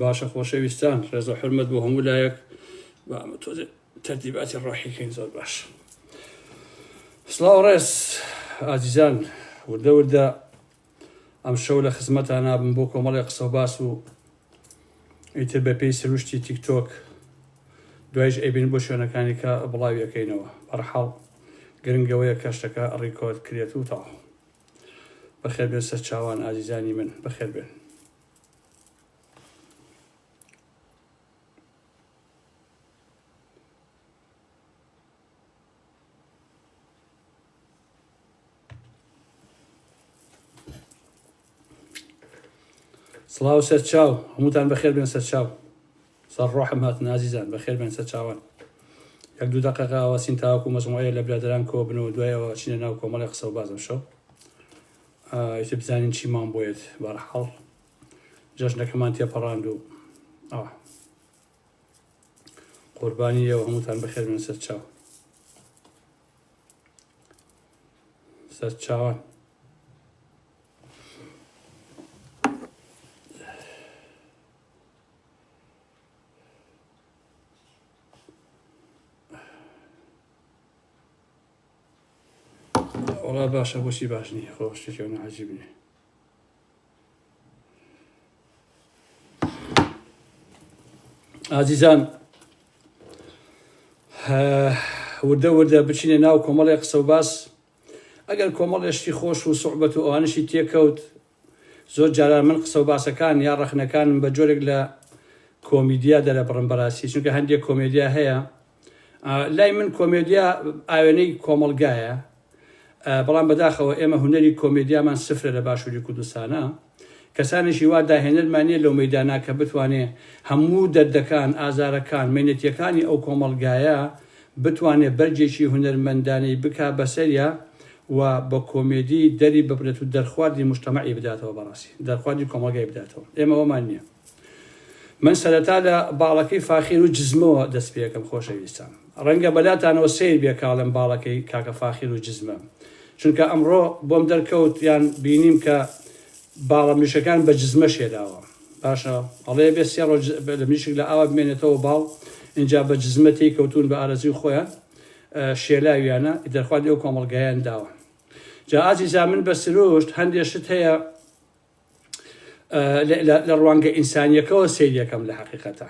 باشە خۆشەویستان ڕێزە حرمەت بۆ هەموو لایەک تەرتیباتی ڕۆحیکەین زۆر باش سلااو ڕێز ئازیزان وردە وردە ئەم شەو لە خزمەتە نابم بۆ کۆمەڵی قسە و باس و ئیتر بە پێی سروشتی تیکتۆک دوایش ئەبین بۆ شوێنەکانی کە بڵاویەکەینەوە بەرحاڵ گرنگەوەیە کەشتەکە ڕیکۆرد کرێت و تاوە بەخێربێن سەرچاوان ئازیزانی من بەخێربێن سڵاو سەرچاو هەمووتان بەخێر بێن سەرچاو سەر ڕۆحم هاتن ئازیزان بەخێربێن سەرچاوان یەک دوو دەقەقە ئاواسین تاوەکو مەجموعەیە لە برادەران کۆبن و دوای ئەوە چینە ناو کۆمەڵی قسە و باز ئەمشەو ئیتر بزانین چیمان بۆیت بەرحاڵ جەژنەکەمان تێپەڕاند و ئەوە قوربانی ئێوە هەمووتان بەخێربێن سەرچاو سەرچاوان وڵا باشە بۆچی باش نی خۆ شتێکی ئەوە عجیب نیە ئازیزان وردە وردە بچینە ناو کۆمەڵی قسە و باس ئەگەر کۆمەڵێشتی خۆش و سوعبەت و ئەوانشی تێکەوت زۆر جاران من قسە و باسەکان یا ڕەخنەکانم بە جۆرێک لە کۆمیدیا دەرەبڕم بەراستی چونکە هەندێک کۆمێدیا هەیە لای من کۆمێدیا ئاوێنەی کۆمەڵگایە بەڵام بەداخەوە ئێمە هوەری کۆمێدیامان سفرە لە باشووری کوردستانە کەسانێکی وا داهێنەرمانە لەو مەدانا کە بتوانێ هەموو دەردەکان ئازارەکان مینەتیەکانی ئەو کۆمەلگایە بتوانێ بەرگێکی هونەرمەندانەی بکا بەسەریا و بە کۆمێدی دەری ببرێت و دەرخواردی موجتەمەعی بداتەوە بەڕاستی دەرخواردی کۆمەڵگای بداتەوە ئێمە ئەوەمان نیە من سەرەتا لە باڵەکەی فاخیر و جزمەوە دەست پێکەم خۆشەویستان ڕەنگە بەلاتانەوە سەیر بێ کاڵێم باڵەکەی کاکە فاخیر و جزمە چونکە ئەمڕۆ بۆم دەرکەوت یان بینیم کە باڵە مریشکەکان بە جزمە شێداوە باشە ئەڵێ بێ سێ ڕۆژ لە مریشک لە ئاوا بمێنێتەوە باڵ ئینجا بە جزمە تێی کەوتون بە ئارەزوی خۆیان شێلاویانە دەرخوان لەو کۆمەڵگایان داوە جا ئازیزا من بە سروشت هەندێ شت هەیە لە ڕوانگە ئینسانیەکەەوە سیریەکەم لە حقیقەتە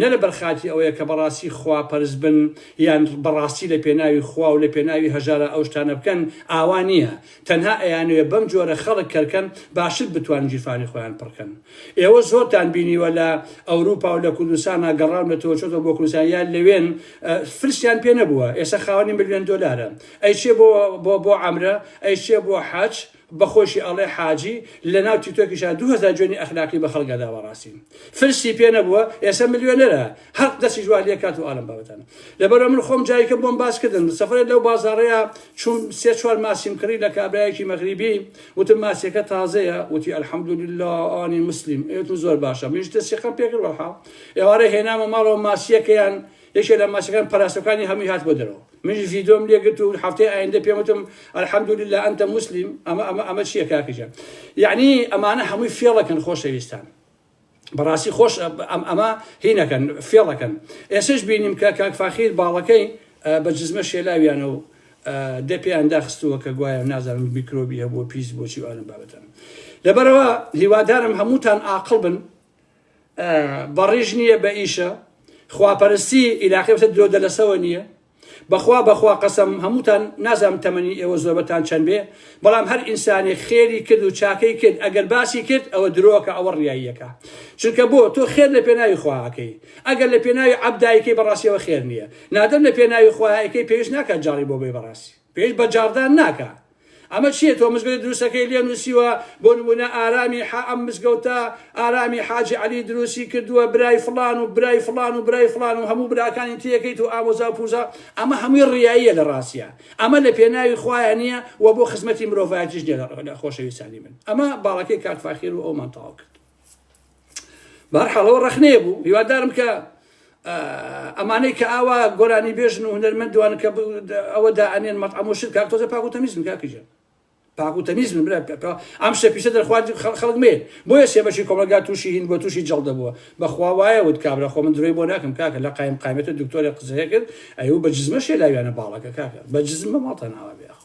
نە لەبەر خاتری ئەوەیە کە بەڕاستی خوا پەرست بن یان بەڕاستی لە پێناوی خوا و لە پێناوی هەژارا ئەو شتانە بکەن، ئاوا نییە، تەنها ئەیانەوێ بەم جۆرە خەڵک کەرکەن باشتر بتوان گیرفانی خۆیان پڕ کەن. ئێوە زۆرتان بینیوە لە ئەوروپا و لە کوردستانا گەڕاونەتەوە چۆتەوە بۆ کوردستان یان لەوێن فلسیان پێ نەبووە ئێستا خاوەنی ملیۆن دۆلارە ئەیچێ بۆ بۆ عەمرە ئەیچێ بۆ حەج بە خۆشی ئەڵێ حاجی لەناو تیکتۆکیشا دوو هەزار جوێنی ئەخلاقی بە خەڵک ئەدا بەڕاستی فلسی پێ نەبووە ئێسە ملیۆنەرە هەق دەسیش وا لێ کات و ئالەم بابەتانە لەبەرە من خۆم جایکە بۆم باس کردن سەفرێت لەو بازاڕەیە چوم سێ چوار ماسیم کڕی لە کابرایەکی مەغریبی وتم ماسیەکە تازەیە وتی الحمدلله ئانی مسلیم ئێتم زۆر باشە منیش تەسیقەم پێکرد وەڵحاڵ ئێوارە هێنامە ماڵەوە ماسیەکەیان یەکێ لە مەچەکان پەراسۆکانی هەمووی هات بۆ دەرەوە منیش ڤیدۆم لێ گرت و هەفتەی ئایندە پێم وتم الحمد للە انت مسلم ئەمە ئەمە ئەمە چییە کاکە گیان یەعنی ئەمانە هەمووی فێڵەکەن خۆشەویستان بەڕاستی خۆش ئەم ئەمە هینەکەن فێڵەکەن ئێسش بینیم کە کاک فاخیر باڵەکەی بە جزمە شێلاویانە و دە پێیان داخستووە کە گوایە نازانم میکرۆبی هەبوو پیس بۆچی ئەم بابەتەن لەبەرەوە هیوادارم هەمووتان ئاقل بن بەڕیش نییە بە ئیشە خواپەرستی ئیلاقی وتە درۆ دەلەسەوە نییە بەخوا بەخوا قەسەم هەمووتان نازام تەمەنی ئێوە زۆربەتان چەند بێ بەڵام هەر ئینسانێک خێری کرد و چاکەی کرد ئەگەر باسی کرد ئەوە درۆکە ئەوە ڕاییەکە چونکە بۆ تۆ خێر لە پێناوی خواکەی ئەگەر لە پێناوی عبدایکەی بەڕاستیەوە خێر نییە نادەم لە پێناوی خواکەی پێویست ناکات جاڕی بۆ بێ بەڕاستی پێش بە جاڕدان ناکا. ئەمە چیە تۆ مزگەوتی دروستەکەی لێ نوسیوە بۆ نمونە ئارامی حا ئەم مزگەوتە ئارامی حاجی عەلی دروستی کردوە برای فڵان و برای فڵان و برای فڵان و هەموو براکانی تێکەیت و ئامۆزا و پوزا ئەمە هەمووی ڕیاییە لە ڕاستیا ئەمە لە پێناوی خوایە نیە و بۆ خزمەتی مرۆڤایەتیش نیە لە خۆشەویستانی من ئەمە باڵەکەی کاک فاخیر و ئەومان تەواو کرد. بارحاڵەوە ڕخنەیە بوو هیوادارم کە ئەمانەی کە ئاوا گۆرانی بێژن و هەنەرمەندوان کە ئەوە دائەنێن مەتعمۆشت کار تۆزە پاک و تەمیزم کاکیژە پاک و تەمیزم برا ئەم شتە پیسە دەرخوارد خەڵک مێ بۆیە سێبەشی کۆمەلگا تووشی هین بۆ تووشی جەڵدە بووە بەخوا وایە وت کابرا خۆ من درۆی بۆ ناکەم کاکە لە قایم قایمێت و دکتۆرە قزەیە کرد ئەو بە جزمە شێلاویانە باڵەکە کاکە بە جزم بە ماڵتە ناوە بێخۆ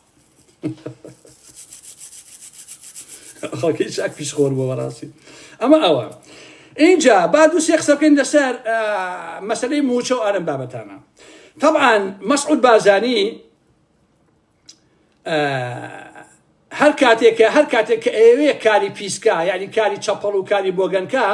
خەڵکی چاک پیش خۆر بۆ بەڕاستی ئەمە ئەوە اینجا با دوو سێ قسە بکەین لەسەر مەسلەی موچە و ئارم بابەتانە طبعا مەسعود بازانی هەر کاتێکە هەر کاتێک کە ئەوێ کاری پیسکە یعنی کاری چەپەڵ و کاری بۆگەنکە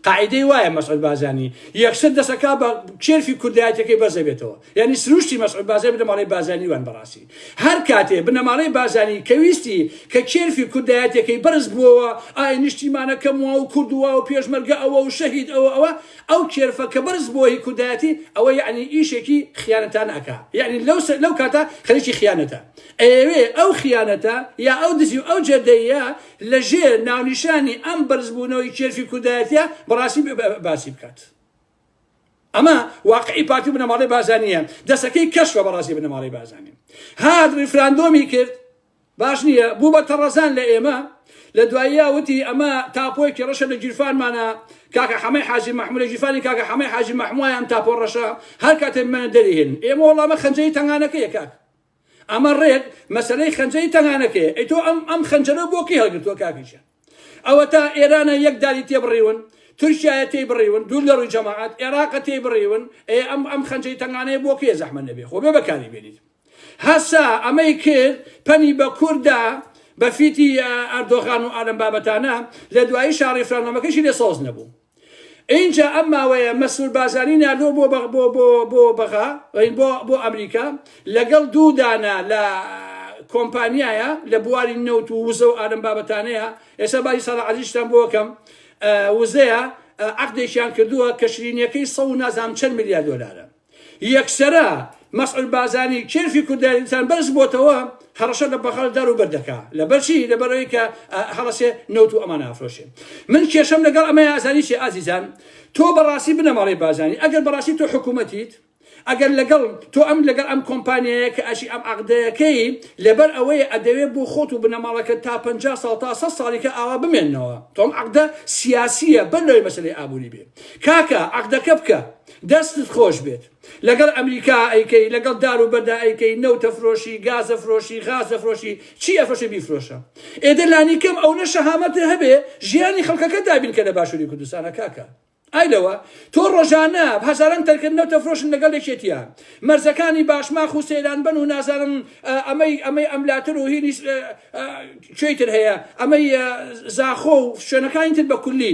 قاعیدەی وایە مەسعود بارزانی یەکسەر دەست ئەکا بە کێرفی کوردایەتەکەی بەرز دەبێتەوە یانی سروشتی مەسعود بارزانی بنەماڵەی بارزانی وان بەڕاستی هەر کاتێ بنەماڵەی بارزانی کە ویستی کە کێرفی کوردایەتەکەی بەرز بووەوە ئای نیشتیمانەکەم وا و کورد وا و پێشمەرگە ئەوە و شەهید ئەوە ئەوە ئەو کێرفە کە بەرز بووە هی کوردایەتی ئەوە یانی ئیشێکی خیانەتانە ئەکا یانی لەو لەو کاتە خەریکی خیانەتە ئەیەوێ ئەو خیانەتە یا ئەو دزی و ئەو جەردەییە لە ژێر ناونیشانی ئەم بەرزبوونەوەی کێرفی کوردایەتیە بەڕاستی باسی بکات ئەمە واقعی پارتی و بنەماڵەی بازانیە دەسەکەی کەشفە بەڕاستی بنەماڵەی بازانین هات ریفراندۆمی کرد باش نییە بوو بە تەڕەزان لە ئێمە لە دواییە وتی ئەمە تاپۆیەکی ڕەشە لە گیرفانمانە کاکە حەمەی حاجی محمود لە گیرفانی کاکە حەمەی حاجی محموایان تاپۆ ڕەشە هەر کاتێ منە دەریهێن ئێمە وەڵامە خەنجەی تەنگانەکەیە کاک ئەمە ڕێک مەسەلەی خەنجەری تەنگانەکەیە ئەی تۆ ئەم ئەم خەنجەرە بۆ کەی هەڵگرتووە کاکی ژیان ئەوەتا ئێرانە یەک داری تێ بڕیون تورکیایە تێی بڕیون دوور لە ڕووی جەماعات عێراقە تێی بڕیون ئێ ئەم ئەم خەنجەی تەنگانەیە بۆ کێ زەحمە نەبێ خۆ بێ بەکاری بێنیت هەسا ئەمەی کرد پەنی بە کووردا بە فیتی ئەردۆغان و ئالم بابەتانە لە دوایی شاڕی فرانامەکەشی لێ سۆز نەبوو ئینجا ئەم ماوەیە مەسرور بارزانی ناردووە بۆ بەغ بۆ بۆ بۆ بەغا ڕین بۆ بۆ ئەمریکا لەگەڵ دوو دانە لە کۆمپانیایە لە بواری نەوت و وزە و ئارم بابەتانەیە ئێستا باسی سەرا عزیزتان بۆ کەم وزەیە عقدێکیان کردووە کە شرینیەکەی سە و نازام چەند ملیار دۆلارە یەکسەرە مەسعود بازانی کێرفی کوردایەتیتان بەرز بۆتەوە هەڕەشە لە بەغەل دار و بەر دەکا لەبەرچی لەبەرەوەی کە هەڵەسێ نەوت و ئەمان ئافرۆشێ من کێشەم لەگەڵ ئەمە ئازانی چێ ئازیزان تۆ بەڕاستی بنەماڵەی بازانی ئەگەر بەڕاستی تۆ حکوومەتیت ئەگەر لەگەڵ تۆ ئەم لەگەڵ ئەم کۆمپانیایە کە ئەشی ئەم عقدەکەی لەبەر ئەوەیە ئەدەوێت بۆ خۆت و بنەماڵەکە تا پ ساڵ تا سە ساڵیکە ئاوا بمێنەوە تۆم عقدە سیاسیە بەر لەوەی مەسلەی ئابووری بێ کاکە عقدەکە بکە دەستت خۆش بێت لەگەڵ ئەمریکا ئەیکەی لەگەڵ دار و بەردا ئەیکەی نەوت ئەفرۆشی گاز ئەفرۆشی غاز ئەفرۆشی چی ئەفرۆشی بیفرۆشە ئێ دە لانی کەم ئەونە شەهامەتت هەبێ ژیانی خەڵکەکە دابین کە لە باشووری کوردستانە کاکە ئای لەوە تۆ ڕۆژانە هەزاران تەرکە نەوت ئەفرۆشن لەگەڵ یەکێتیە مەرزەکانی باشماخ و سەیران بن و نازانم ئەمەی ئەمەی ئەملاتر و هینی کوێی تر هەیە ئەمەی زاخۆ و شوێنەکانی تر بە کولی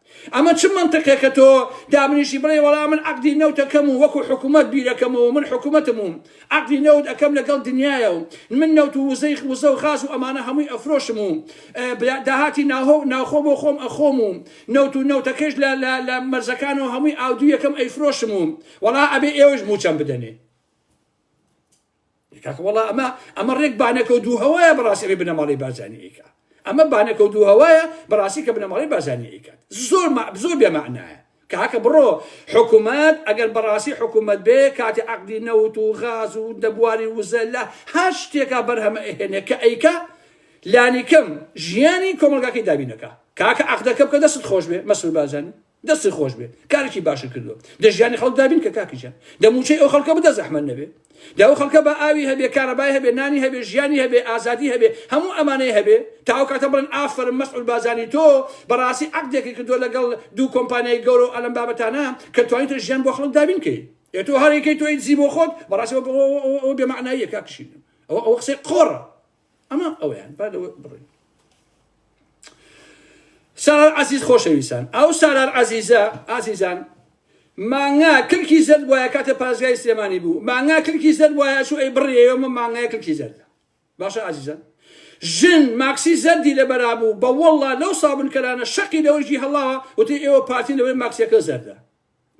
ئەمە چ مەنتقێکە تۆ دامنیشی بڵێی وەڵا من عەقدی نەوت ئەکەم و وەکو حکومەت بیرەکەمەوە و من حکومەتم و عەقدی نەوت ئەکەم لەگەڵ دنیایە و من نەوت و وزەی وزە و غاز و ئەمانە هەمووی ئەفرۆشم و داهاتی ناوخۆ بۆ خۆم ئەخۆم و نەوت و نەوتەکەیش لە مەرزەکانەوە هەمووی ئاودیویەکەم ئەیفرۆشم و وەڵا ئەبێ ئێوەیش مووچەم بدەنێ. کاکە وەڵا ئەمە ئەمە ڕێک بانەکە و دوو هەوایە بەڕاستی ئەوی بنەماڵەی بارزانی ئیکا ئەمە بانەکە و دوو هەوایە بەڕاستی کە بنەماڵەی بارزانی ئیکات زۆر زۆر بێمەعنایە کاکە بڕۆ حکوومەت ئەگەر بەڕاستی حکوومەت بێ کاتی عقدی نەوت و غاز و دەبواری وزە لە هەر شتێکا بەرهەمە ئەهێنێ کە ئەیکا لانیکەم ژیانی کۆمەلگاکەی دابینەکە کاکە عقدەکە بکە دەست خۆش بێ مەسول بازانی دەستی خۆش بێ کارێکی باشت کردوە دە ژیانی خەڵک دابین کە کاکی جان دە موچەی ئەو خەڵکە بدە زەحمەت نەبێ دە ئەو خەڵکە با ئاوی هەبێ کارەبای هەبێ نانی هەبێ ژیانی هەبێ ئازادی هەبێ هەموو ئەمانەی هەبێ تا ئەو کاتە بڵێن ئافەرم مەسعود بازانی تۆ بەڕاستی عەقدێکی کردوە لەگەڵ دوو کۆمپانیای گەورە و ئەلەم بابەتانە کە توانیتە ژیان بۆ خەڵک دابین کەی ئێ تۆ هەر یەکەی تۆی دزی بۆ خۆت بەڕاستی ئەوە بێمەعناییە کاک شیرین ئەوە ئەوە قسەی قۆڕە ئەمە ئەویان با لەوە بڕین سارار عزیز خۆشەویستان ئەو سارار عزیزە ئازیزان مانگا کلکی زەر وایە کاتە پازگای سلێمانی بوو مانگا کلکی زەر وایە شو ئەی بڕی ئێمە مانگای کلکی زەردە باشە ئازیزان ژن ماکسی زەردی لە بەرابوو بە وەڵا لەو سابنکەرانە شەقی لەوەژی هەڵاوە وتی ئێوە پارتی لەوەی ماکسیەکە زەردە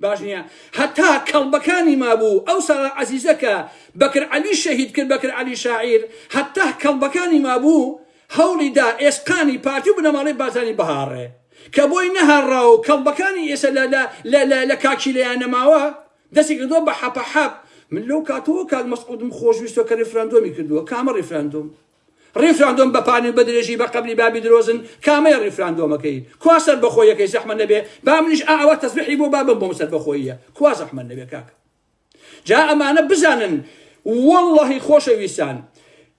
باش نیە هەتا کەڵبەکانی مابوو ئەو سارا عەزیزە کە بەکر عەلی شەهید کرد بەکر عەلی شاعیر هەتا کەڵبەکانی مابوو هەوڵی دا ئێسقانی پارتی و بنەماڵەی بارزانی بهاڕێ کە بۆی نەهاڕا و کەڵبەکانی ئێسە لە لە لە لە لە کاکیلەیان نەماوە دەستی کردووە بە حەپە حەپ من لەو کاتەوە کاک مەسعودم خۆشویستوە کە ریفراندۆمی کردووە کامە ریفراندۆم ڕیفراندۆم بە پانی و بە درێژی بە قەبری بابی درۆزن کامەیە ڕیفراندۆمەکەی کوا سەربەخۆییەکەی زەحمەت نەبێ با منیش ئا ئەوە تەزبیحی بۆ بابم بۆم سەربەخۆییە کوا زەحمەت نەبێ کاک جا ئەمانە بزانن واللهی خۆشەویستان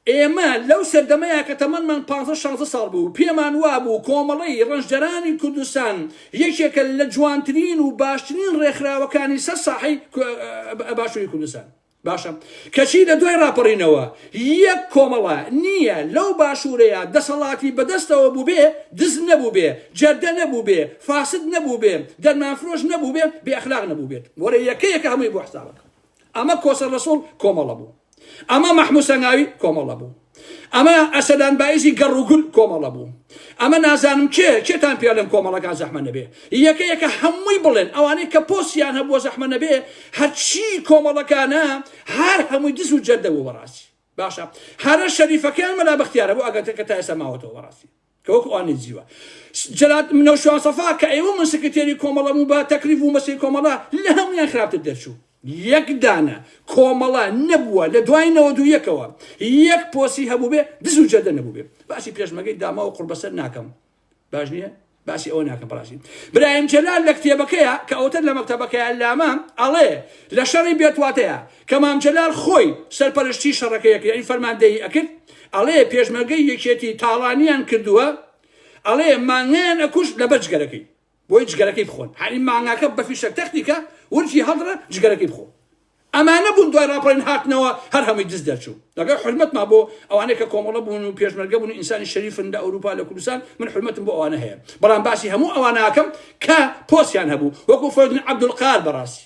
ئێمە لەو سەردەمەیە کە تەمەمان 15 ساڵ بوو پێمان وابوو کۆمەڵی ڕنجدەرانی کوردستان یەکێکە لە جوانترین و باشترین ڕێکخراوەکانی سەر ساحی باشووری کوردستان باشە کەچی لە دوای ڕاپەڕینەوە یەک کۆمەڵە نییە لەو باشوورەیە دەسەڵاتی بەدەستەوە بووبێ دز نەبووبێ، جەردە نەبووبێ، فاسد نەبووبێ، دەرمانفرۆش نەبووبێ، بێ ئەخلاق نەبووبێت. وەرە یەکە یەکە هەمووی بۆ حسابەکە. ئەمە کۆسە ڕەسوڵ کۆمەڵە بوو. ئەمە مەحموود سەنگاوی کۆمەڵە بوو. ئەمە ئەسەدان بایزی گەڕ و گول کۆمەڵە بوو ئەمە نازانم کێ کێتان پێ لەم کۆمەڵەکان زەحمە نەبێ یەکە یەکە هەمووی بڵێن ئەوانەی کە پۆسیان هەبووە زەحمە نەبێ هەرچی کۆمەڵەکانە هەر هەمووی دز و جەردە بوو بەڕاستی باشە هەرە شەریفەکەیان مەلا بەختیارە بۆ ئەگەتەکە تا ئێستا ماوەتەوە بەڕاستی کە وەکو ئەوان نەیجیوە جەلات منەو شوان سەفا کە ئێوە من سکرتێری کۆمەڵە بوو بە تەکلیف و مەسەی کۆمەڵە لە هەمویان خراپتر دەرچوو یەک دانە کۆمەڵە نەبووە لە دوای نەوە دوو یەکەوە یەک پۆسی هەبوو بێ دز و جەردە نەبوو بێ باسی پێشمەگەی داما و قوربەسەر ناکەم باش نییە باسی ئەوە ناکەم بەڕاستی برایم جەلال لە کتێبەکەیە کە ئەوتر لە مەکتەبەکەیە لامە ئەڵێ لە شەڕی بێتواتەیە کە مام جەلال خۆی سەرپەرشتی شەڕەکەیەکە یعنی فەرماندەیی ئەکرد ئەڵێ پێشمەرگەی یەکێتی تاڵانیان کردووە ئەڵێ مانگایان ئەکوشت لەبەر جگەرەکەی بۆی جگەرەکەی بخۆن هەنی مانگاکە بە فیشەک تەختیکە ورچی هەڵدڕە جگەرەکەی بخۆ ئەمانە بوون دوای راپەڕین هاتنەوە هەر هەمووی دز دەرچوو لەگەڵ حرمەتما بۆ ئەوانەی کە کۆمەڵە بوون و پێشمەرگە بوون و ئینسانی شەریفن لە ئەوروپا لە کوردستان من حرمەتم بۆ ئەوانە هەیە بەڵام باسی هەموو ئەواناکەم کە پۆستیان هەبوو وەکو فەرودین عەبدولقار بەڕاستی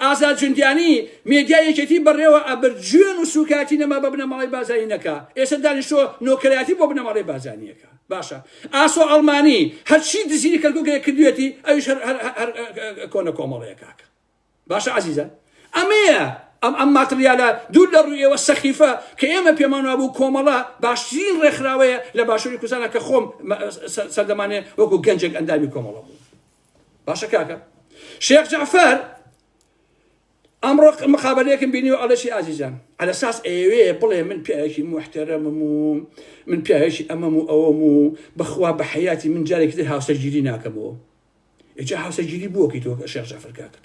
ئازاد جوندیانی، مێدیای یەکێتی بەڕێوە ئەبرد، جوێن و سووکایەتی نەما بە بنەماڵەی بارزانی نەکا، ئێستا دانیشتووە نۆکەرایەتی بۆ بنەماڵەی بارزانی ئەکا. باشە ئاسۆ ئەڵمانی هەرچی دزینی کەرکووک هەیە کردوویەتی، ئەویش هەر هەر هەر کۆنە کۆمەڵەیە کاکە. باشە ئازیزان ئەمەیە ئەم ئەم ماتریالە دوور لە ڕووی ئێوە سەخیفە کە ئێمە پێمان وابوو کۆمەڵە باشترین ڕێکخراوەیە لە باشووری کوردستانا کە خۆم سەردەمانێ وەکوو گەنجێک ئەندامی کۆمەڵە بووم. باشە کاکە شێخ جعفەر ئەمڕۆ مقابلەیەکم بینی و ئەڵەشی ئازیزان على ساس ئەوێ بڵێ من پیاوێکی محتەرەمم و من پیاوێکی ئەمەم و ئەوەم و بەخوا بە حیاتی من جارێکی تر هاوسەرگیری ناکەمەوە ئێجا هاوسەرگیری بووەکەی تۆ شێخ جعفەر کاکەت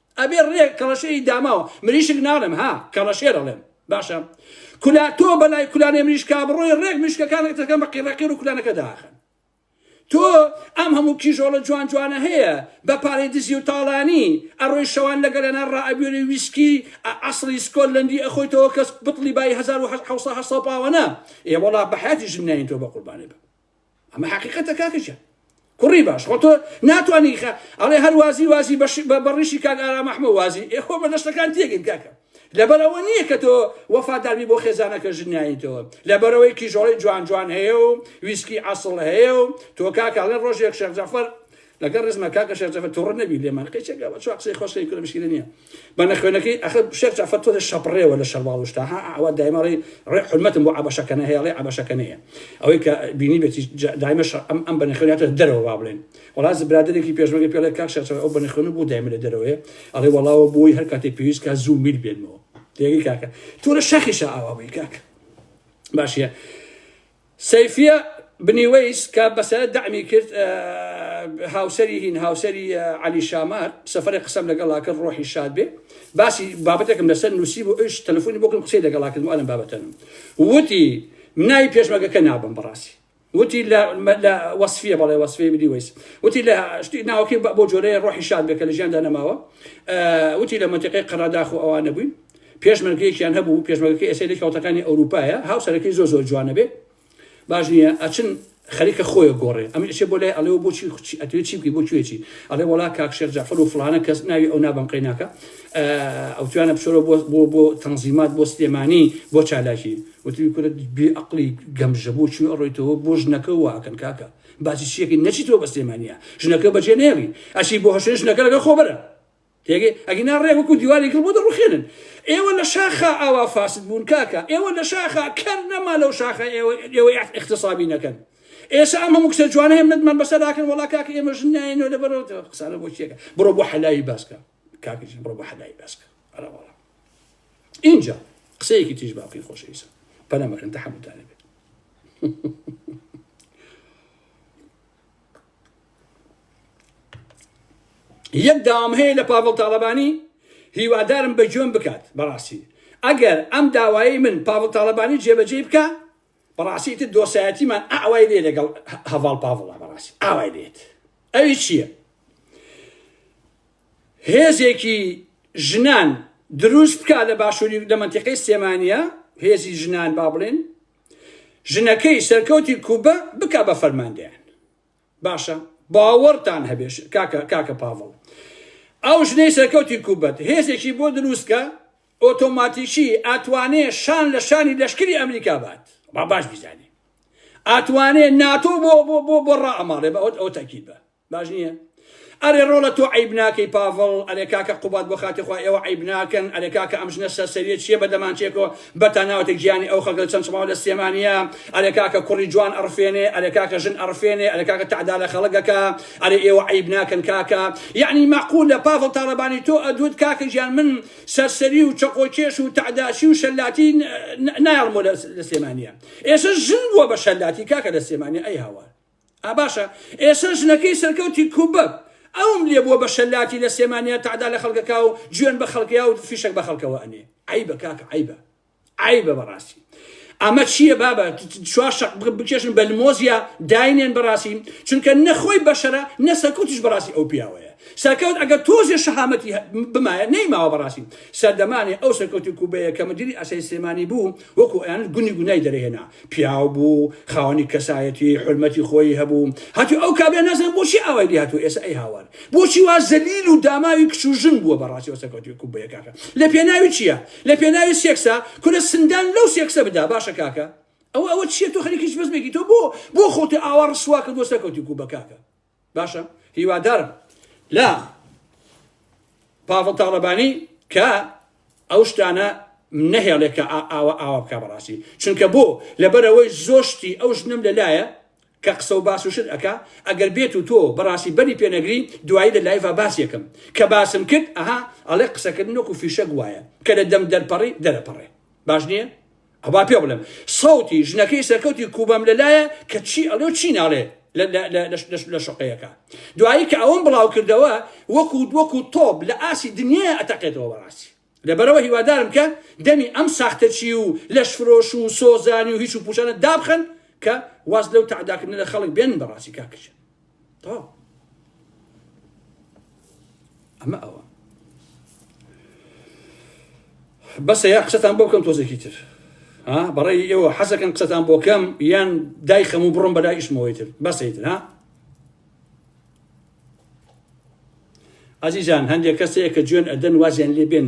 ئەبێ ڕێک کەڵەشێری داماوە مریشک ناڵێم ها کەڵەشێر ئەڵێم باشە کولا تۆ بەلای کولانێ مریشکا بڕۆی ڕێک مریشکەکانت دەکەن بە قیڕەقیڕ و کولانەکە داخن تۆ ئەم هەموو کیژۆڵە جوان جوانە هەیە بە پارەی دزی و تاڵانی ئەڕۆی شەوان لە گەلەنان ڕائەبوێری ویسکی عەسڵی سکۆتلەندی ئەخۆیتەوە کەس بتڵی بای هەزار و حەوت سەد پاوەنە ئێ وەڵا بە حەیاتی ژن نایەین تۆ بە قوربانی بم ئەمە حەقیقەتە کاکە گیان. کوڕی باش خۆ تۆ ناتوانی خە ئەڵێ هەر وازی وازی بەش بە بەڕیشی کاک ئارام ئەحمە وازی ئێ خۆ بەدەشتەکان تێگەین کاکە لەبەر ئەوە نییە کە تۆ وەفاداربی بۆ خێزانەکە ژنیانیتەوە لەبەرەوەی کیژۆڵی جوان جوان هەیە و ویسکی عسڵ هەیە و تۆ کاکە ئەڵێ ڕۆژێک شێخ جەفەر لەگەڵ ڕێزما کاکە شێخ جەفەر توڕە نەبی لێمان قەی چەکە بەچوا قسەی خۆش کەی کورە مشکیلە نیە بە نەخوێنەکەی ئەخە شێخ جەفەر تۆ لە شەپڕێوە لە شەرواڵ شتا ها ئەوە دایمە ڕێ ڕێ حرمەتم بۆ عەبەشەکە نە هەیە ڕێ عەبەشەکە نەیە ئەوەی کە بینی بێتی دایمە شەر ئەم ئەم بە نەخوێناتە دەرەوە با بڵێن وڵاز برادێکی پێشمەگە پێڵێ کاک شێخ جەفەر ئەو بە نەخوێن بوو دایمە لە دەرەوەیە ئەڵێ وەڵاوە بۆی هەر کاتێ پێویست کا زوو میل بێنمەوە تێگەی کاکە تۆ لە شەخیشە ئاوا بووی کاکە باشە سەیفیە بنی وەیس کە بەسەرە دەعمی کرد هاوسەری هین هاوسەری عەلی شامار سەفەرێ قسەم لەگەڵا کرد ڕۆحی شاد بێ باسی بابەتێکم لەسەر نووسی بۆ ئەوش تەلەفۆنی بۆکرد قسەی لەگەڵا کردم ئەلم بابەتەنم وتی مناوی پێشمەگەکە نابم بەڕاستی وتی لە لە وەصفیە بەڵێ وەصفی بدی ویس وتی لە شتی ناوەکەی بۆ جۆرەیە ڕۆحی شاد بێکە لە ژیاندا نەماوە وتی لە منتیقەی قەرەداخ و ئەوانە بووین پێشمەرگەیەکیان هەبوو پێشمەرگەکە ئێستا لە کەوتەکانی ئەوروپایە هاوسەرەکەی زۆر زۆر جوانە بێ باش نییە ئەچن خەریکە خۆیە گۆڕێ ئەم ئەشێ بۆ لای ئەڵێەوە بۆچی خوچی ئەتوێ چی بکەی بۆ کوێچی ئەڵێ وڵا کاک شێخ جەفر و فلانە کەس ناوی ئەو نابم قەیناکە ئەو توانە بچۆرە بۆ بۆ بۆ تەنزیمات بۆ سلێمانی بۆ چالاکی وتی کورە بێ ئەقلی گەمژە بۆ چی ئەڕۆیتەوە بۆ ژنەکە واکەن کاکە باسی چیەکەی نەچیتەوە بە سلێمانە ژنەکە بەجێ نێڵی ئەشی بۆ هەشێ ژنەکە لەگە خۆبەرە تێگەی ئەگینا ڕێک وەکو دیواری گڵ بۆ دەڕوخێنن ئێوە لە شاخا ئاوا فاسد بوون کاکە ئێوە لە شاخا کەر نەما لەو شاخە ئێوە ئێوە اختصابی نەکەن ئێسا ئەم هەموو کچە جوانە هێم نەتمان بەسەر داکەن وڵا کاکە ئێمە ژن نایەنەوە لە بەرەوە قسانە بۆ چیەکە بڕۆ بۆ حەلاوی باسکە کاکە ژن بڕۆ بۆ حەلاوی باسکە ئەرە وڵا اینجا قسەیەکی تیژ باقی خۆش ئیسا پەنەمەکەن تەحەمتانە بێت یەک داوام هەیە لە پاڤڵ تاڵەبانی هیوادارم بە گوێم بکات بەڕاستی ئەگەر ئەم داوایی من پاڤڵ تاڵەبانی جێبەجێ بکە بەڕاستی تر دۆسایەتیمان ئاوای لێ لەگەڵ هەڤاڵ پاڤڵە بەڕاستی ئاوای لێت ئەوی چییە هێزێکی ژنان دروست بکە لە باشووری لە منتیقی سێمانە هێزی ژنان با بڵێن ژنەکەی سەرکەوتی کوبە بکا بە فەرماندەیان باشە باوەڕتان هەبێ کاکە کاکە پاڤڵ ئەو ژنەی سەرکەوتی کوبەت هێزێکی بۆ دروستکە ئۆتۆماتیکی ئەتوانێ شان لە شانی لەشکری ئەمریکا بات با باش بیزانێ ئەتوانێ ناتۆ بۆ بۆ بۆ بۆ ڕائەماڵێ بە ئەو تەکیل بە باش نییە ئەرێ ڕۆڵە تۆ عیب ناکەی پاڤڵ ئەرێ کاکە قوباد بۆ خاتری خوا ئێوە عیب ناکەن ئەرێ کاکە ئەم ژنە سەرسەریە چییە بە دەمانچەیەکەوە بەتان ناوەتە گیانی ئەو خەڵکە چەند چڵاو لە سلێمانییە ئەرێ کاکە کوڕی جوان ئەڕفێنێ ئەرێ کاکە ژن ئەڕفێنێ ئەرێ کاکە تەعدا لە خەڵک ئەکا ئەرێ ئێوە عیب ناکەن کاکە یەعنی مەعقولە پاڤڵ تاڵەبانی تۆ ئەدوت کاکە گیان من سەرسەری و چەقۆکێش و تەعداچی و شەلاتی نایەڵمۆ لە سلێمانییە ئێستا ژن بووە بە شەلاتی کاکە لە سلێمانیە ئەی هاوار ئا باشە ئێسە ژنەکەی سەرکەوتی کوبب ئەوم لێ بوە بە شەلاتی لە سێمانیا تەعدا لە خەڵکەکا و جوێن بە خەڵکیا و فیشەک بە خەڵکەوە ئەنێ عیبە کاکە عیبە عیبە بەڕاستی ئەمە چییە بابە چوار شق بکێشن بە لمۆزیا داینێن بەڕاستی چونکە نەخۆی بەشەرە نە سەرکوتیش بەڕاستی ئەو پیاوەیە سەرکەوت ئەگەر تۆزێ شەهامەتی بمایە نەیماوە بەڕاستی سەردەمانێ ئەو سەرکەوتی کوبەیە کە مدیری ئەسای سلێمانی بوو وەکو ئەیانوت گونی گونای دەرهێنا، پیاو بوو، خاوەنی کەسایەتی، حورمەتی خۆیی هەبوو، هاتووی ئەو کابرا نازانم بۆچی ئاوای لێ هاتووە ئێسە ئەی هاوار، بۆچی وا زەلیل و داماوی کچ و ژن بووە بەڕاستی ئەو سەرکەوتووی کوبەیە کاکە لە پێناوی چییە؟ لە پێناوی سێکسە؟ کورە سندان لەو سێکسە بدا باشە کاکە ئەوە ئەوە چییە تۆ خەریکی هیچ بەزمێکی تۆ بۆ بۆ خۆت ئاوا ڕسوا کردووە سەرکەوتووی کوبە کاکە. باشە هیوادارم لە پاڤڵ تاڵەبانی کە ئەو شتانە نەهێڵێ کە ئاوا ئاوا بکە بەڕاستی چونکە بۆ لەبەرەوەی زۆشتی ئەو ژنم لەلایە کە قسە و باس و شت ئەک ئەگەر بێت و تۆ بەڕاستی بەری پێنەگری دوایی لە لایڤ باسیەکەم کە باسم کرد ئەها ئەڵێ قسەکردن وەکو فیشەک وایە کە لە دەم دەرپەڕی دەرەپەڕێ باش نییە با پێ بڵێم سەوتی ژنەکەی سەرکەوتی کوبەم لەلایە کە چی ئەڵێ و چی ناڵێ لە شقەیەەکە دوایی کە ئەوم بڵاو کردەوە وەکو وەکو تۆب لە ئاسی دنیا ئەتەقێتەوە بەڕاستی لەبەرەوە هیوادارم کە دەمی ئەم ساختەچی و لەش فرۆش و سۆزانی و هیچ و پوچانە دابخن کە واز لەو تعداکردنە لە خەڵک بێن بەڕاستی کاکەشە تەواو ئەمە ئەوە بەسە یا قسەتان بۆ بکەم تۆزێکی تر بەڕێی ئێوە حەزەکەن قسەتان بۆ کەم یان دای خەم و بڕم بەلای ئیشمەوەی تر بەسەی تر ها ئازیزان هەندێک کەسەیە کە جوێن ئەدەن وازیان لێ بێن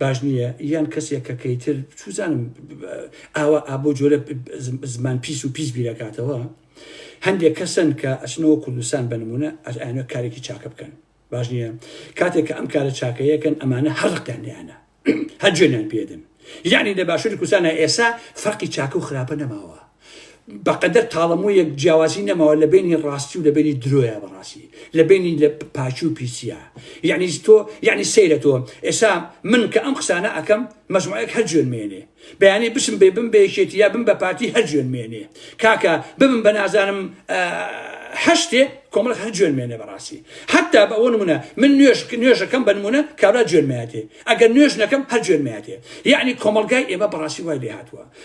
باش نییە یان کەسێک کە کەیتر چوزانم ئاوا ئابۆ جۆرە زمان پیس و پیس بیرەکاتەوە هەندێک کەسن کە ئەچنەوە کوردستان بنمونە ئەزانە کارێکی چاکە بکەن باش نییە کاتێک کە ئەم کارە چاکەیەکەن ئەمانە هەڵقیان لیانە هەر جوێنیان پێدن یعنی لە باشووری کوردستانە ئێسا فەرقی چاکە و خراپە نەماوە بەقەدەر تاڵەموویەک جیاوازی نەماوە لە بینی ڕاستی و لە بینی درۆیە بەڕاستی لە بینی لە پاچی و پیسە یعنی تۆ یعنی سەیرە تۆ ئێسا من کە ئەم قسانە ئەەکەم مەجموعەیەک هەر جوێن مێنێ بەیانی بچم بێ بم بێشێتی یا بم بە پارتی هەر جوێن مێنێ کاکە ببم بە نازانم هەشتێ کۆمەڵک هەر جوێن مێنێ بەڕاستی حتا بە ئەوە نمونە من نوێش نوێژەکەم بە نمونە کابرا جوێن ماتێ ئەگەر نوێژ نەکەم هەر جوێن ماتێ یعنی کۆمەلگای ئێمە بەڕاستی وای لێ هاتووە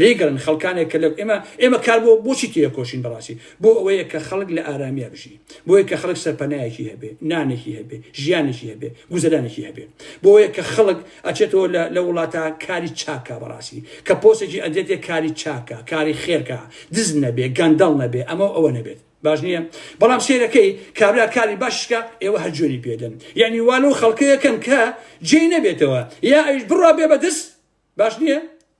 لێی گەڕێن خەڵکانێک کە لە ئێمە ئێمە کار بۆ بۆچی تێکۆشین بەڕاستی بۆ ئەوەیە کە خەڵک لە ئارامیا بژی بۆیە کە خەڵک سەرپەنایەکی هەبێ نانێکی هەبێ ژیانێکی هەبێ گوزەرانێکی هەبێ بۆیە کە خەڵک ئەچێتەوە لە وڵاتە کاری چاکە بەڕاستی کە پۆسێکی ئەدێتێ کاری چاکە کاری خێرکە دز نەبێ گەندەڵ نەبێ ئەمە ئەوە نەبێت باش نییە بەڵام سێرەکەی کابرا کاری باشکە ئێوە هەر جوێنی پێدەن یعنی والو خەڵکەکەن کە جێ نەبێتەوە یا ئەوش بڕا بێ بەدەست باش نییە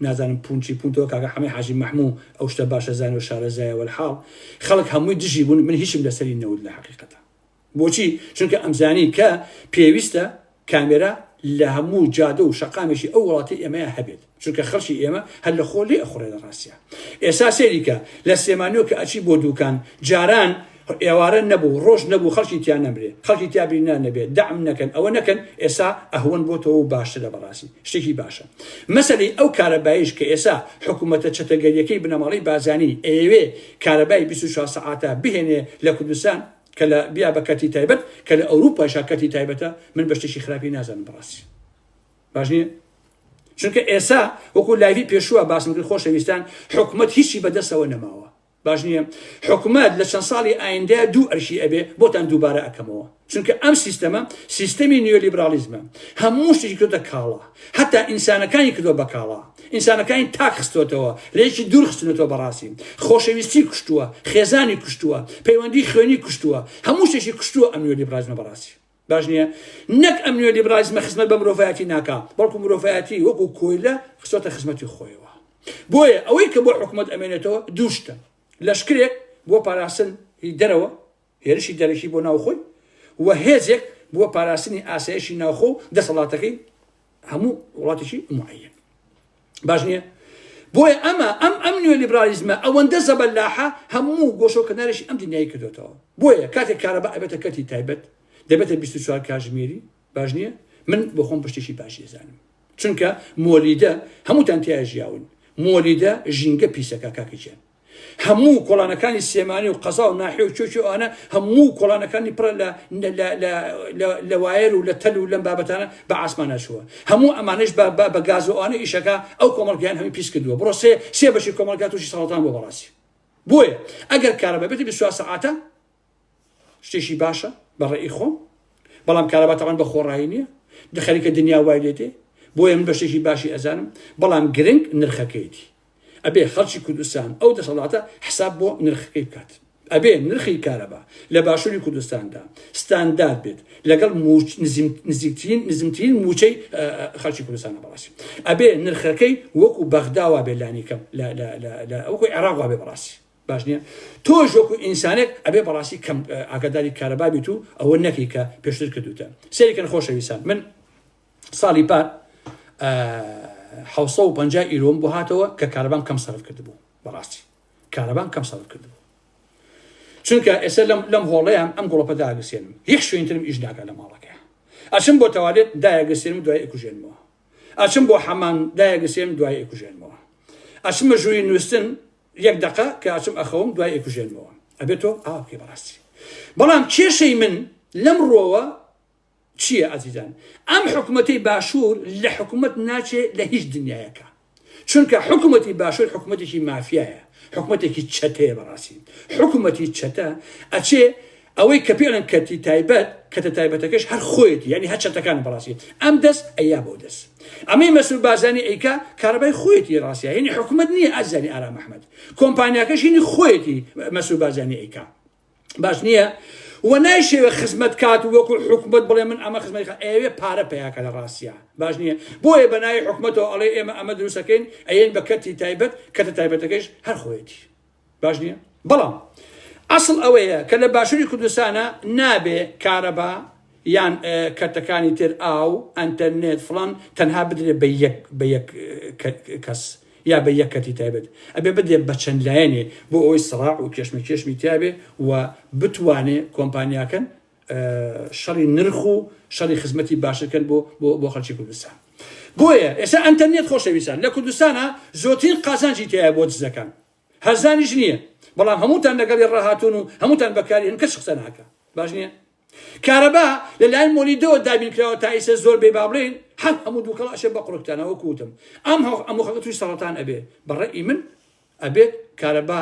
نازانم پون چی پون تۆ کاکە حەمەی حاجی مەحموو ئەو شتە باشە زانێ و شارەزایە وەلحاڵ خەڵک هەمووی دژی بوون من هیچم لەسەری نەوت لە حەقیقەتا بۆچی چونکە ئەمزانی کە پێویستە کامێرا لە هەموو جادە و شەقامێکی ئەو وڵاتی ئێمەیە هەبێت چونکە خەڵکی ئێمە هەر لە خۆ لێ ئەخوڕێ لە ڕاستیا ئێسا سەیری کە لە سلێمانیەوە کە ئەچی بۆ دووکان جاران ئێوارە نەبوو ڕۆژ نەبوو خەڵکی تیا نەمرێ خەڵکی تیا بیرنا نەبێ دەعم نەکەن ئەوە نەکەن ئێسا ئەهوەن بۆتەوە و باشترە بەڕاستی شتێکی باشە مەسەلەی ئەو کارەبایش کە ئێسا حکوومەتە چەتەگەریەکەی بنەماڵەی بارزانی ئەیەوێ کارەبای بیست و چوار سەعاتە بهێنێ لە کوردستان کە لە بیا بە کەرتی تایبەت کە لە ئەوروپاشا کەرتی تایبەتە من بە شتێکی خراپی نازانم بەڕاستی باش نییە چونکە ئێسا وەکو لایڤی پێشووە باسم کرد خۆشەویستان حکوومەت هیچی بەدەستەوە نەماوە باش نیە حکومەت لە چەند ساڵی ئایندەیە دوو ئەرشی ئەبێ بۆتان دووبارە ئەکەمەوە چونکە ئەم سیستەمە سیستەمی نیۆلیبرالیزمە هەموو شتێکی کردە کاڵا هەتا ئینسانەکانی کردو بە کاڵا ئینسانەکانی تاک خستۆتەوە لەیەکی دوور خستنەوە بەڕاستی خۆشەویستی کوشتووە خێزانی کوشتووە پەیوەندی خوێنی کوشتووە هەموو شتێکی کوشتووە ئەم نیۆلیبرالیزمە بەڕاستی باش نیە؟ نەک ئەم نیۆلیبرالیزمە خزمەت بە مرۆڤایەتی ناکا، بەڵکو مرۆڤایەتی وەکو کۆیلە خستۆتە خزمەتی خۆیەوە. بۆیە ئەوەی کە بۆ حکومەت ئەمێنێتەوە دوو شتە، لەشکرێک بۆ پاراستن ی دەرەوە، هێرشی دەرەکی بۆ ناوخۆی، و هێزێک بۆ پاراستنی ئاسایشی ناوخۆ و دەسەڵاتەکەی هەموو وڵاتێکی معەیەن. باش نییە بۆیە ئەمە ئەم ئەم نوێ لیبرالیزمە ئەوەندە زەبەلاحە هەموو گۆشەکردنارێکی ئەم دنیای کردێتەوە بۆیە کاتێک کارەبا ئەبێتە کەتی تایبەت دەبێتە 24 کاژمێری باش نییە من بۆ خۆم پشتێکی باشی زانم چونکە مۆلیدە هەمووتان تیا ژیاون مۆلیدە ژینگە پیسەکە کاکەچێن هەموو کۆڵانەکانی سێمانی و قەزا و ناحێ و چۆچی ئەوانە هەموو کۆڵانەکانی پڕە لە وایر و لە تەل و لەم بابەتانە بە ئاسمانەشووە هەموو ئەمانش بە گازوانە ئیشەکە ئەو کۆمەڵگەیان هەمی پیس کردووە بڕۆ سێ سێ بەشی کۆمەلگات وشی ساڵتان بۆ بەڕاستی بۆیە ئەگەر کارە بەبێت بسواسە عاتە شتێکی باشە بە ڕێی خۆم بەڵام کارەبا تەوان بە خۆڕایی نییە دە خەریکە دنیا وای لێ دێ بۆیە من بە شتێکی باشی ئەزانم بەڵام گرنگ نرخەکەیتی ئەبێ خەڵکی کوردستان ئەو دەسەڵاتە حساب بۆ نرخەکەی بکات ئەبێ نرخی کارەبا لە باشووری کوردستاندا ستاندارد بێت لەگەڵ نزیکترین نزمترین موچەی خەڵکی کوردستانە بەڕاستی ئەبێ نرخەکەی وەکو بەغداوا بێ لانیکەم لە ئەوکۆی عێراقوا بێ بەڕاستی باش نییە تۆش وەکو ئینسانێک ئەبێ بەڕاستی کەم ئاگاداری کارەبا بیت و ئەوە نەکەی کە پێشتر کردوتە سەریکەن خۆشەویستان من ساڵی پار حوسە و پنج ئیرۆم بۆ هاتەوە کە کارەبام کەم سەرف کردبوو بەڕاستی کارەبام کەم سەرف کردبوو چونکە ئێستا لەم لەم هۆڵەیان ئەم گوڵەپە داگەسێنم هیچ شوێنترم ئیش ناکە لە ماڵەکە ئەچم بۆ تەوالێت دایەگەسێنم دوای ئەکوژێنمەوە ئەچم بۆ حەمان دایەگەسێنم دوای ئەکوژێنمەوە ئەچمە ژووری نووسن یەک دەقە کە ئەچم ئەخەوم دوای ئەیکوژێنمەوە ئەبێ تۆ ئاوا بکەی بەڕاستی بەڵام کێشەی من لەم ڕۆوە چییە ئازیزان ئەم حکوومەتی باشوور لە حکوومەت ناچێ لە هیچ دنیایەکە چونکە حکوومەتی باشوور حکوومەتێکی مافیایە حکوومەتێکی چەتەیە بەڕاستی حکوومەتی چەتە ئەچێ ئەوەی کە پێڵێن کەرتی تایبەت کەتە تایبەتەکەش هەر خۆیەتی یانی هەر چەتەکان بەڕاستی ئەم دەس ئەیا بەو دەس ئەمەی مەسول بازانی ئەیکا کارەبای خۆیەتی ڕاستە هینی حکوومەت نییە ئازاری ئارام ئەحمد کۆمپانیاکەش هینی خۆیەتی مەسول بازانی ئەیکا باش نییە و نایشەوێ خزمەت کات و وەکو حکومت بڵێ من ئەمە خزمەت ئەوێ پارە پیاکە لە ڕاستە باش نییە بۆیە بەناوی حکومەتەوە ئەڵێ ئێمە ئەمە دروستەکەین ئەیەن بە کەتی تایبەت کەتە تایبەتەکەش هەر خۆیەتی باش نییە بەڵام ئەسڵ ئەوەیە کە لە باشووری کوردستانە نابێ کارەبا یان کەتەکانی تر ئاو ئەتەرنێت فلان تەنها بدرێت بە یەک بە یەک کەس یا بە یەک کەتی تایبەت ئەبێ بدێت بە چەند لایەنێ بۆ ئەوی سڕاع و کێشمە کێشمی تیاابێ و بتوانێ کۆمپانیاکەن شەڕی نرخ و شەڕی خزمەتی باشترکەن بۆ بۆ بۆ خەڵکی کوردستان بۆیە ئێستا ئەنتەرنێت خۆشەویستان لە کوردستانە زۆترین قازانجی تایە بۆ دزەکان هەرزانیش نییە بەڵام هەمووتان لەگەڵی ڕاهاتون و هەمووتان بەکاری هەن کەس قسە ناکە باش نییە کارەبا لە لای مۆلیدەوە دابینکراوە تا ئیسە زۆر بێ بابلین هەم هەموو دووکەڵاشێ بە قڕکتانەوە کوتم ئەم هەو ئەمو خەکە توی سەڵتان ئەبێ بەڕێ ئی من ئەبێت کارەبا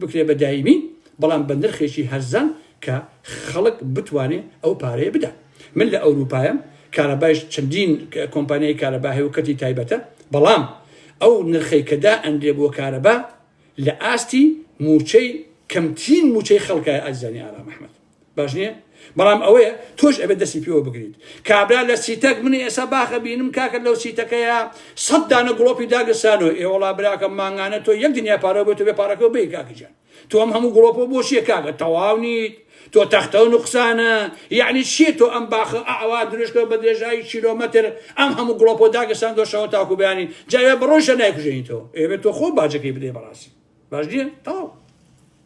بکرێت بە دایمی بەڵام بە نرخێکی هەرزان کە خەڵک بتوانێت ئەو پارەیە بدات من لە ئەوروپایم کارەبایش چەندین کۆمپانیای کارەبا هەیە و کەرتی تایبەتە بەڵام ئەو نرخەی کە دائەنرێ بۆ کارەبا لە ئاستی مووچەی کەمترین مووچەی خەڵکە ئازیزانی ئارام ئەحمەد. باش نییە بەڵام ئەوەیە تۆش ئەبێت دەستی پێوە بگریت کابرا لە سیتەک منی ئێستا باخە بینم کاکە لەو سیتەکەیە سەد دانە گڵۆپی داگرسانەوە ئێوەڵا براکەم مانگانە تۆ یەک دنیا پارە بێت بێ پارەکەەوە بی کاکەجان تۆم هەموو گڵۆپۆ بۆ شیە کاکە تەواو نیت تۆ تەختە و نقصانە یعنی چیە تۆ ئەم باخە ئاوا درێژکە بە درێژایی کیلۆمەتر ئەم هەموو گڵۆپۆ داگەسان دۆشەوە تاکو بەیانی جاوێ بڕۆژە نایکوژێنیتەوە ئێبێت تۆ خۆ باجەکەی بدەی بەڕاستی باش نیە تاو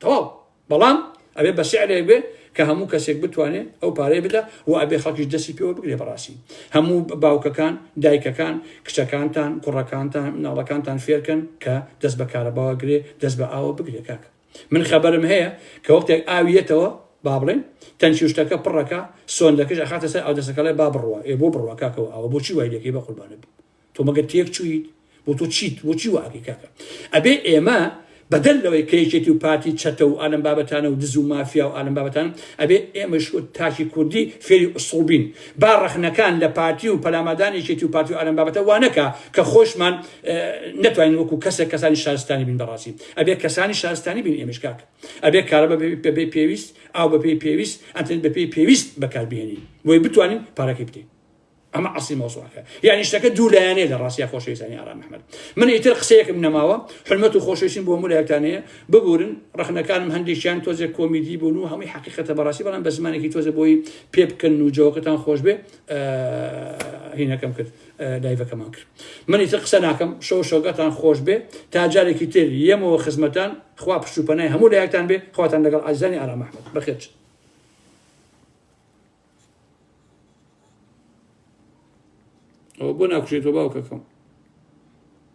تەواو بەڵام ئەبێ بە سعرێک بێ کە هەموو کەسێک بتوانێت ئەو پارەی بدا و ئەبێ خەڵکیش دەستی پێوە بگرێ بەڕاستی هەموو باوکەکان دایکەکان کچەکانتان کوڕەکانتان مناڵەکانتان فێرکەن کە دەست بە کارەباوە گرێ دەست بە ئاوە بگرێ کاکە من خەبەرم هەیە کە وەختێک ئاویەتەوە با بڵێن تەنکی شتەکە پڕەکە سۆندەکەش ئەخاتە سەر ئەو دەسەکەڵێ با بڕوە ئێ بۆ بڕوە کاکەەوە ئەوە بۆچی وای لەکەی بە قوربانە بوو تۆ مەگەر تێک چوویت بۆ تۆ چیت بۆچی واکەی کاکە ئەبێ ئێمە بەدەر لەوەی کەیکێتی و پارتی چەتە و ئالم بابەتانە و دز و مافیا و ئالم بابەتان ئەبێ ئێمەش و تاکی کوردی فێری ئوسڵبین با ڕەخنەکان لە پارتی و پەلامادانێکێتی و پارتی و ئالم بابەتە وانەکە کە خۆشمان نتوانین وەکو کەسێک کەسانی شارستانی بین بەڕاستی ئەبێ کەسانی شارستانی بین ئێمەش کاک ئەبێ کارە بەبێ پێویست ئاو بەپێی پێویست ئەتن بەپێی پێویست بەکاربیێنین بۆی بتوانین پارەکەی بدەین ئەمە عسی مۆسوعەکە یعنی شتەکە دوو لایەنێ لە ڕاستیا خۆشەویستانی ئارام محمد من ئیتر قسەیەکم نەماوە حلمەت و خۆشەویستیم بۆ مولایەکانەیە ببورن ڕخنەکانم هەندێکیان تۆزێک کۆمیدی بوون و هەمووی حقیقەتە بەڕاستی بەڵام بە زمانێکی تۆزە بۆی پێ بکەن و جەوەکەتان خۆش بێ هینەکەم کرد لایڤەکەمان کرد من ئیتر قسە ناکەم شەو شۆگەتان خۆش بێ تا جارێکی تر یەمەوە خزمەتان خوا پشت و پەنای هەموو لایەکتان بێ خواتان لەگەڵ ئازانی ئارام محمد بەخێرچن ئەوە بۆ ناکوشێتەوە باوکەکەم